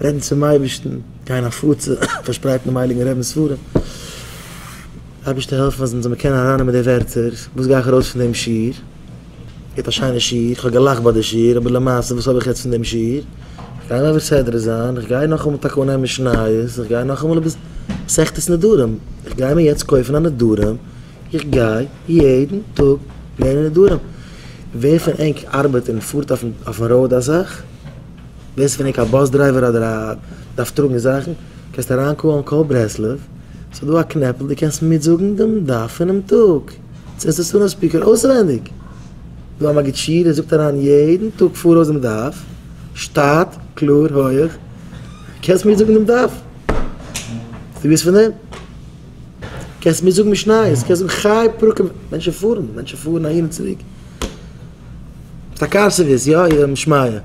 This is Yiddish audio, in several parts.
רעדן צום אייבערשטן, גייען הפצה, פארשפרייטן דעם הייליגן רבינ'ס ספרים, אייבערשטער העלף מיר אז מ'זאל מיר קענען ארייננעמען די ווערטער, וואס גיי איך ארויס פון דעם שיעור, געהערט א שיינע שיעור, איך האב געלאכט ביי די שיעור, אבער למעשה וואס האב איך יעצט פון דעם שיעור, איך גיי נאר מסדר זיין, איך גיי נאכאמאל טאקע אנהייבן משניות, איך גיי נאכאמאל אביס מסכת נדרים, איך גיי מיר יעצט קויפן א נדרים, איך גיי יעדן טאג לערנען נדרים, ווער פון ענק ארבעט און פארט אויפן אויפן ראוד אזאך? ווערסט קעניג א באס דרייווער אדער א דארפסט טראגן זאכן, קענסט אריינקאלן קול ברסלב, ס'איז דא א קנעפל דו קענסט מיטזאגן דעם דף פונעם טאג, זעסט עס אונעם ספיקער אויסווענדיג, דא א מגיד שיעור ער זאגט אריין יעדן טאג פאראויס דעם דף, שטאט, קלאר, הויעך, קענסט מיטזאגן דעם דף, ביסט געוויס פון דעם? קענסט מיטזאגן משניות, קענסט זאגן חי פרקים, מענטשן פארן, מענטשן פארן אהין און צוריק. טאקע סערוויס יא איר האט נישט מיה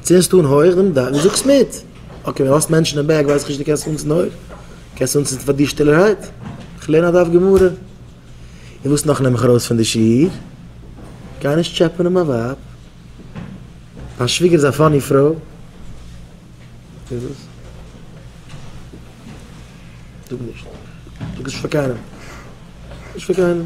צו אונז טון הויעך דעם דאך דו זאגסט מיט אקעי ווען האסט מענטשן אין בעק ווייס איך נישט דו קענסט אונז נאר קענסט אונז פאר דיר שטילערהייט איך לערן א דף גמרא און וואס נאך נעם איך ארויס פון די שיעור גיי נישט טשעפענען מיין ווייב מיין שוויגער איז א פאני פרוי איז עס זאג נישט זאג עס נישט פאר קיינעם נישט פאר קיינעם.